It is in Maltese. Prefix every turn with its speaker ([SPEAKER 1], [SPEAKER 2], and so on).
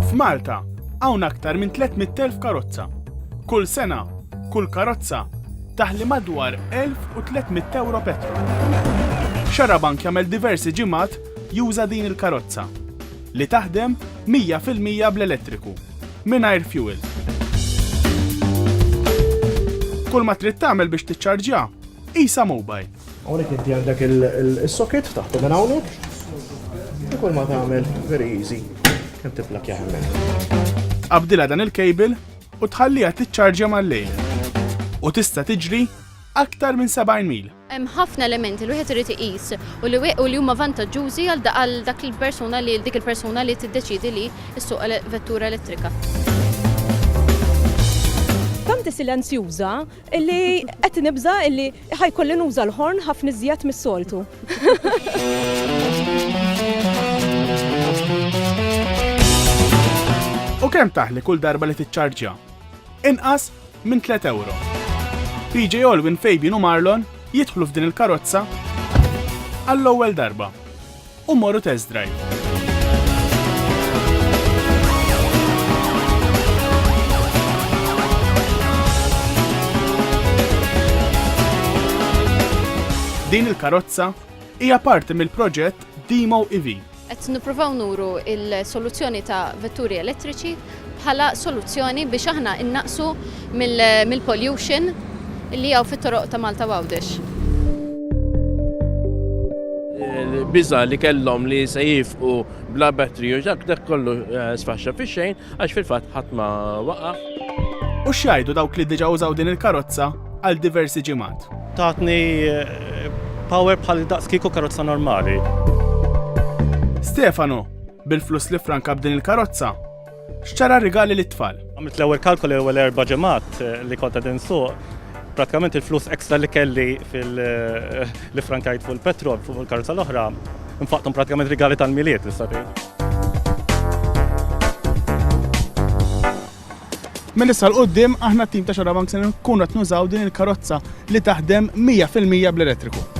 [SPEAKER 1] F'Malta hawn aktar minn 300,000 karozza. Kull sena, kull karozza taħli madwar 1,300 euro petrol. Xarabank jagħmel diversi ġimgħat juża din il-karozza li taħdem 100% bl-elettriku, mingħajr fuel. Kull ma trid tagħmel biex tiċċarġja, isa mobile. Hawnhekk inti għandek
[SPEAKER 2] is-socket taħtu minn hawnhekk u kull ma tagħmel very easy kemm tipplakja hemmhekk. Qabdilha dan
[SPEAKER 1] il-cable u tħalliha tiċċarġja mal-lejl u tista' tiġri aktar minn 70 mil. Hemm ħafna elementi
[SPEAKER 3] li wieħed irid iqis u li u li huma vantaġġużi għal għal dak il-persuna li dik il-persuna li tiddeċidi li ssuq vettura elettrika.
[SPEAKER 4] Tant hi silenzjuża Illi qed nibża' illi ħa jkolli nuża l-ħorn ħafna iżjed mis-soltu.
[SPEAKER 1] U kemm taħli kull darba li tiċċarġja? Inqas minn 3 euro. PJ Olwin, Fabian u Marlon jidħlu f'din il-karozza għall-ewwel darba. u mmorru test drive. Din il-karozza hija parti mill-proġett Demo EV. Qed nippruvaw
[SPEAKER 3] nuru il-soluzzjoni ta' vetturi elettriċi bħala soluzzjoni biex aħna innaqqsu mill-pollution li hawn fit-toroq ta' Malta u Għawdex.
[SPEAKER 5] Il-biża' li kellhom li se jifqu bla battery u dak dak kollu sfaxxa fix-xejn għax fil-fatt ħadd ma waqaf. U
[SPEAKER 1] x'jgħidu dawk li diġà użaw din il-karozza għal diversi ġimgħat? Tatni
[SPEAKER 6] power bħal daqs kieku karozza normali. Stefano,
[SPEAKER 1] Bil-flus li ffranka b'din il-karozza, xtara rigali lit-tfal. Għamilt l-ewwel kalkoli
[SPEAKER 6] l-ewwel erba' ġimgħat eh, li kont qed insuq pratikament il-flus ekstra li kelli fil eh, li frankajt fuq il-petrol fuq il-karozza l-oħra, nfaqtom pratikament rigali tal-miliet, nista'
[SPEAKER 1] Minn issa 'l quddiem aħna t-tim ta' Xarabank se nkunu qed nużaw din il-karozza li taħdem mija fil-mija bl-elettriku.